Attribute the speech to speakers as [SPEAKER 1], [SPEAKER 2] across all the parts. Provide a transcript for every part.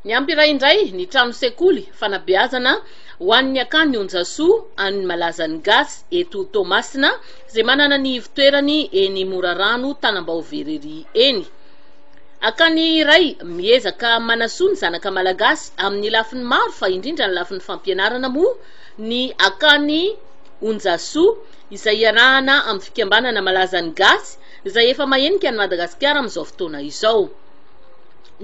[SPEAKER 1] Ny Ampira indray, ny trano sekoly, fanabeazana ho an'ny akany Onjasoa, an'ny malazan'ny gasy eto Toamasina, izay manana ny ivo-toerany eny Morarano, Tanambao Verrerie eny. Akany iray, miezaka manasoa ny zanaka malagasy amin'ny lafiny maro fa indrindra ny lafiny fampianarana moa ny akany Onjasoa, izay iarahana amin'ny fikambanana malazan'ny gasy, izay efa mahenika an'i Madagasikara amin'izao fotoana izao.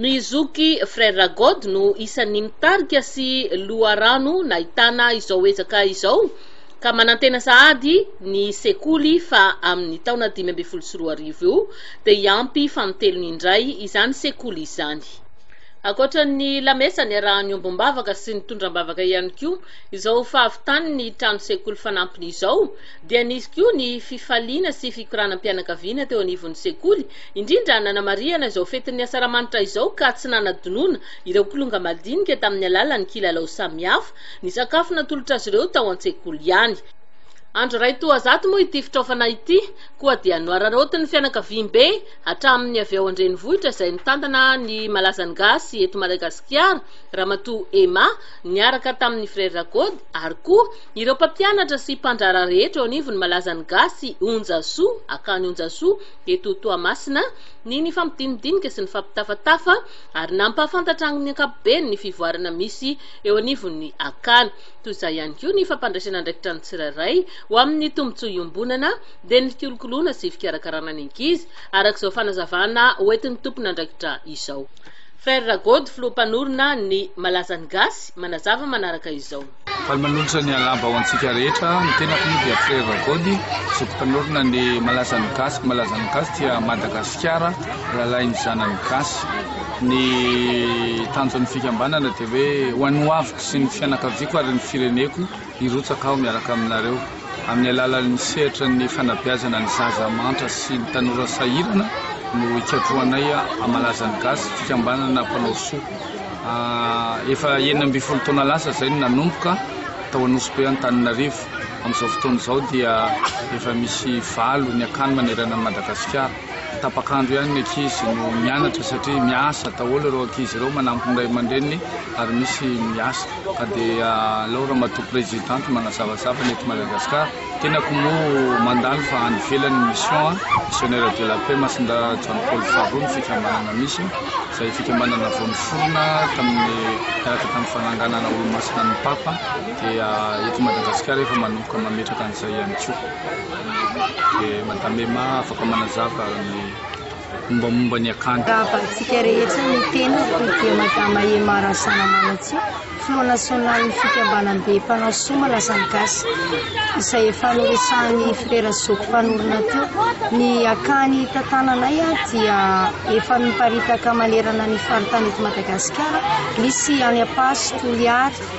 [SPEAKER 1] Ny zoky Frères God no isan'ny mitarika sy loharano nahitana izao ezaka izao ka manantena sahady ny sekoly fa amin'ny taona dimy ambin'ny folo sy roa arivo io dia hiampy fanintelony indray izany sekoly izany. Ankoatra ny lamesa niarahany ombom-bavaka sy nitondram-bavaka ihany koa izao fahavitan'ny trano sekoly fanampiny izao dia nisy koa ny fifaliana sy fikoranam-pianakaviana teo anivon'ny sekoly indrindra nanamarihana izao fetin'ny Asaramanitra izao ka tsy nanadinoana ireo kilonga madinika tamin'ny alalan'ny kilalao samihafa ny sakafo natolotra azy ireo tao an-tsekoly ihany. Andro iray toa zato moa ity fitraofana ity koa dia nohararaotin'ny fianakaviambe hatramin'ny avy ao an-drenivohitra izay nitantana ny malazan'ny gasy eto Madagasikara, Ramatoa Emma, niaraka tamin'ny Frères Gody ary koa ireo mpampianatra sy mpandraharaha rehetra eo anivon'ny malazan'ny gasy Onjasoa, Akany Onjasoa, Eto Toamasina, ny nifampidinidinika sy nifampitafatafa ary nampahafantatra amin'ny ankapobeny ny fivoarana misy eo anivon'ny akana. Toy izay ihany koa ny fampandraisana andraikitra ny tsirairay ho amin'ny tombontsoa iombonana dia ny fikolokoloana sy fikarakarana ny ankizy, araka izao fanazavana hoentin'ny tompon'andraikitra izao. Ferre Ragody, filoha mpanorina ny Malazan'ny Gasy, manazava manaraka izao. Faly manolotra ny
[SPEAKER 2] alamba ho antsika rehetra, ny tenako moa dia Frera Gody, zoky mpanorina ny Malazan'ny Gasy, Malazan'ny Gasy dia Madagasikara, rahalahin'ny zanany Gasy. Ny tanjon'ny fikambanana dia hoe ho an'ny hoaviko sy ny fianakaviako ary ny fireneko hirotsaka aho miaraka aminareo. Amin'ny alalan'ny sehatra ny fanabeazana ny zaza mantra sy ny tanora sahirana no hikatrohanay hamalaza ny gasy, fikambanana mpanao soa. Efa enina ambin'ny folo taona lasa izay no nanomboka tao Anosibe Antananarivo. Amin'izao fotoana izao dia efa misy valo ny akany manerana an'i Madagasikara. Tapaka andro ihany ny ankizy no mianatra satria miasa daholo ireo ankizy ireo manampy ny ray aman-dreniny ary misy miasa ka dia alao ramatoa presidente manazavazava ny eto Madagascar tenako moa mandalo fa any ivelany ny mission a missionnaire de la paix Masindahy John Paul faharoa ny fikambanana misy izay fikambanana vao niforona tamin'ny miaraka tamin'ny fananganana olomasina ny papa dia eto Madagascar efa manomboka mametraka an'izay ihany koa dia Madame Emma afaka manazava ny mombamomba ny akany. Raha valintsika rehetra
[SPEAKER 3] ny teny ary dia Madama Emma Razanamanantsia, Filoha Nasionalin'ny Fikambanam-be Mpanao Soa Malaza ny Gasy, izay efa noresahan'i Frera Zoky mpanorina teo. Ny akany tantananay dia efa miparitaka manerana ny faritany eto Madagasikara, misy any Ampaso, Toliary,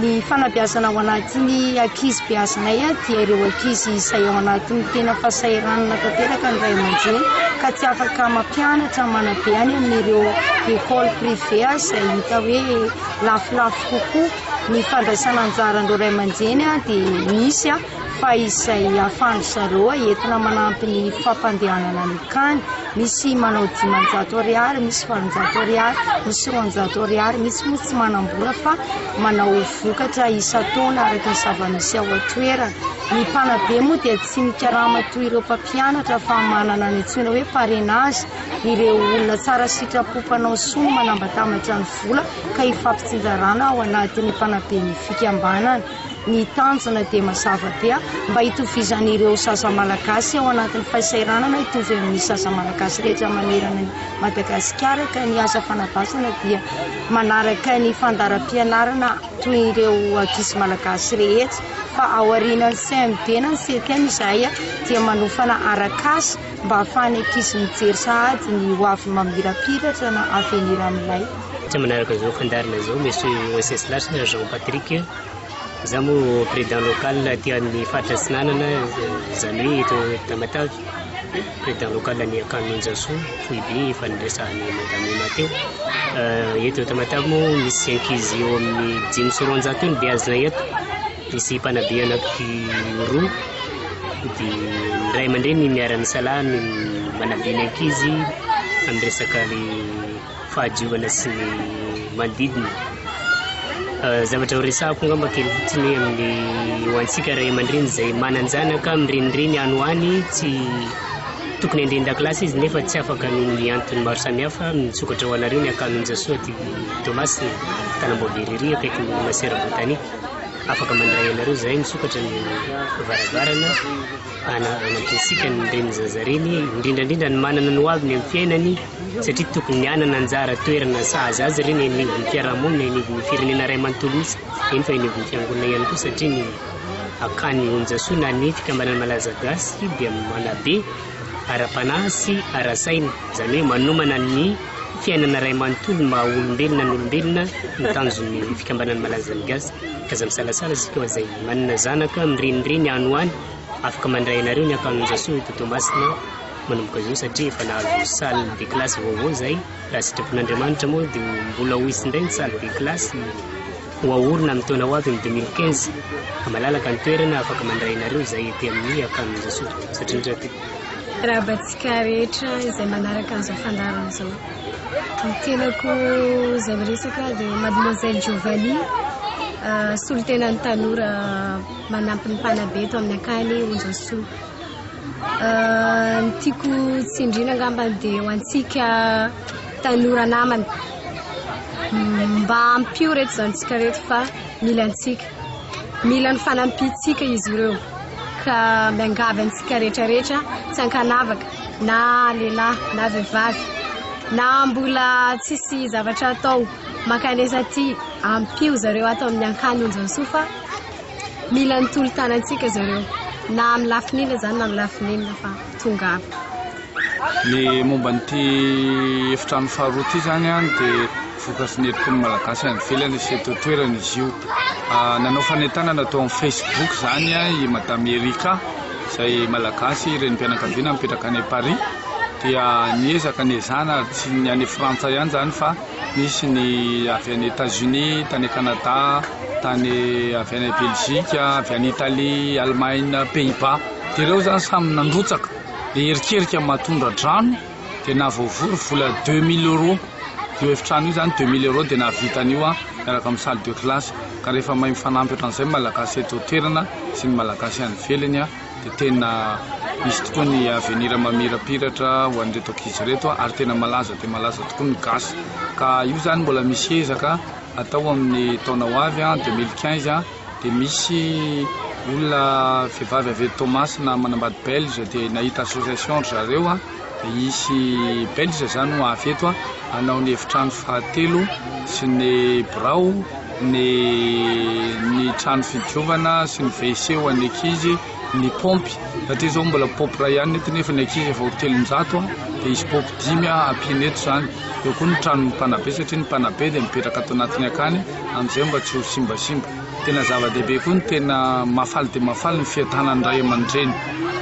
[SPEAKER 3] Ny fanabeazana ao anatin'ny ankizy beazinay dia ireo ankizy izay ao anatin'ny tena fahasahiranana tanteraka ny ray aman-dreny ka tsy afaka mampianatra manabe any amin'ireo école privée izay hita hoe lafolafo kokoa. Ny fandraisana anjaran'ireo ray aman-dreny dia misy fa izay ahafahan-dry zareo entina manampy ny fampandehanana ny kany, misy manao dimanjato ariary, misy valonjato ariary, misy roanjato ariary, misy moa tsy manam-bola fa manao vokatra isan-taona araka ny zava-misy ao an-toerana. Ny mpanabe moa dia tsy mikarama toy ireo mpampianatra fa manana ny antsoina hoe parrainage, ireo olona tsara sitrapo mpanao soa no manambatambatra ny vola ka ifampitsinjarana ao anatin'ny mpanaben'ny fikambanana. Ny tanjona dia mazava be, mba hitovizan'ireo zaza malagasy ao anatin'ny fahasairanana hitovy amin'ny zaza malagasy rehetra manerana an'i Madagasikara ka ny asa fanabasana dia manaraka ny fandaharam-pianarana toy ireo ankizy malagasy rehetra fa aorianan'ny CMD na ny CTM izahay dia manofana arak'asa mba ahafahan'ny ankizy mijery sahady ny hoavy mamirapiratra na avenir amin'ilay
[SPEAKER 4] Tsy manaraka zao fandaharana zao Monsieur Wenceslass Jean
[SPEAKER 3] Patrick
[SPEAKER 4] a! Za moa président local aty amin'ny faritra Atsinanana izany hoe eto Tamatave, président local an'i Akanonjasoa foibe efa niresahan'i Madame Emma teo. Eto Tamatave moa misy ankizy eo amin'ny dimy sy roanjato eo ny beazina eto, misy mpanabe anaky roa dia ny ray aman-dreny miara-misalahy no manabe ny ankizy amin'ny resaka le. fahadiovana sy ny manodidina. Zavatra ho resahako angamba kely fotsiny hoe amin'ny ho antsika ray aman-dreny izay manan-janaka mirenireny any ho any tsy tokony handren-dakilasy izy nefa tsy afaka noho ny antony maro samihafa misokatra ho anareo ny akanonjasoa aty Toamasina tanamboavery ery akaiky ny masera botanika afaka mandray anareo izay misokatra ny varavarana Hanampiana antsika ny reny zaza reny, indrindra indrindra ny manana ny ho aviny amin'ny fiainany satria tokony ny hanana anjara toerana sahaza azy ireny eny anivon'ny fiarahamonina, eny anivon'ny firenena iray manontolo mihitsy, eny fa eny anivon'ny fiangonana ihany koa satria ny akany onjasoa na ny fikambanana malaza gasy dia manabe ara-panahy sy ara-saina, izany hoe manomana ny. Fiainana iray manontolo ny maha olombelona ny olombelona no tanjon'ny fikambanan'ny Malanzan'ny Gasy. Aza misalasala isika fa izay manana zanaka mirenireny any ho any afaka mandray anareo ny akanonja soa eto Toamasina manomboka izao satria efa nahazo salle de classe vaovao izahay raha sitrapon'Andriamanitra moa dia mbola ho hisy indray ny salle de classe Ho aorina amin'ny taona ho avy ny deux mille quinze ka malalaka ny toerana afaka mandray anareo izay ety amin'ny Akanonjasoa satria ny radio. Arahabantsika
[SPEAKER 5] rehetra izay manaraka an'izao fandaharana izao. Ny tenako izay miresaka dia Mademoiselle Giovanni, solontenan'ny tanora manampy ny mpanabe eto amin'ny Akany Onjasoa. Ny tiako tsindriana angambany dia ho antsika Tanora namana, mba ampio reto zanatsika reto fa mila antsika. Mila ny fanampiantsika izy ireo. Ka miangavy antsika rehetrarehetra tsy ankanavaka na lehilahy na vehivavy na mbola tsisy zavatra atao mankanesa aty ampio zareo ato amin'ny Ankany Onjansoa fa mila ny tolo-tanantsika zareo na amin'ny lafiny inona izany na amin'ny lafiny inona fa tongava. Ny
[SPEAKER 2] momba an'ity efitrano faharoa ity izany dia vokatry ny herim-pon'ny Malagasy any ivelany sy eto an-toerana izy io. Nanao fanentanana tao amin'ny Facebook izany i Madame Erika izay Malagasy, renim-pianakaviana mipetraka any Paris, dia niezaka niezana ary tsy ny any Frantsa ihany izany fa nisy ny avy any Etats-Unis, tany Canada, tany avy any Belgique, avy any Italie, Allemagne, Pays-Bas, dia ireo izany samy nandrotsaka. Dia erikerika matondradrano dia nahavoavory vola deux mille euros io efitrano io zany, deux mille euros dia nahavita an'io aho miaraka amin'ny salle de classe ka rehefa mahay mifanampy ohatran'izay ny Malagasy eto an-toerana sy ny Malagasy any ivelany dia tena misy tokoa ny avenir mamirapiratra ho an'ireto ankizy ireto ary tena malaza dia malaza tokoa ny gasy ka io zany mbola misy ezaka atao amin'ny taona ho avy an, deux mille quinze an. Dia misy olona vehivavy avy eto Toamasina manambady belge dia nahita association ry zareo a, dia hisy belge zany ho avy eto a hanao ny efitrano fahatelo sy ny birao, ny ny trano fidiovana sy ny wc ho an'ny ankizy, ny paompy satria zao mbola paompy iray ihany ny eto nefa ny ankizy efa ho telonjato a, dia hisy paompy dimy a ampiana eto zany, eo koa ny tranon'ny mpanabe satria ny mpanabe dia mipetraka ato anatiny akany. Amin'izay mba tsy ho simbasimba. Tena zava-dehibe koa ny tena mahafaly dia mahafaly ny fiadanan'ny ray aman-dreny.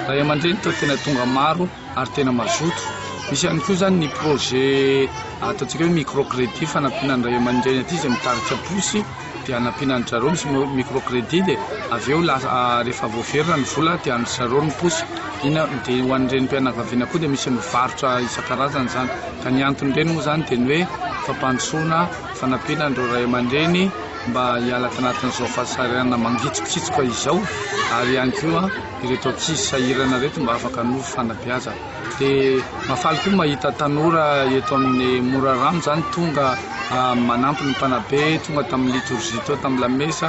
[SPEAKER 2] Ray aman-dreny toa tena tonga maro ary tena mazoto. Misy ihany koa izany ny projet ataontsika hoe micro credit fanampiana ny ray aman-dreny aty izay mitarika posy dia hanampiana an-dry zareo misy micro credit dia avy eo rehefa voaverina ny vola dia an-dry zareo ny posy. Ina, dia ho an'ny renim-pianakaviana koa dia misy mivarotra isan-karazany izany. Ka ny anton'ireny moa izany dia ny hoe fampandrosoana. Fanampiana an'ireo ray aman-dreny mba hiala tanatin'izao fahasahiranana mangitsokitsoka izao ary ihany koa ireto ankizy sahirana ireto mba afaka hanovo fanabeazana. Dia mahafaly koa mahita tanora eto amin'ny Morarano izany tonga manampy ny mpanabe, tonga tamin'ny litorjia teo tamin'ny lamesa.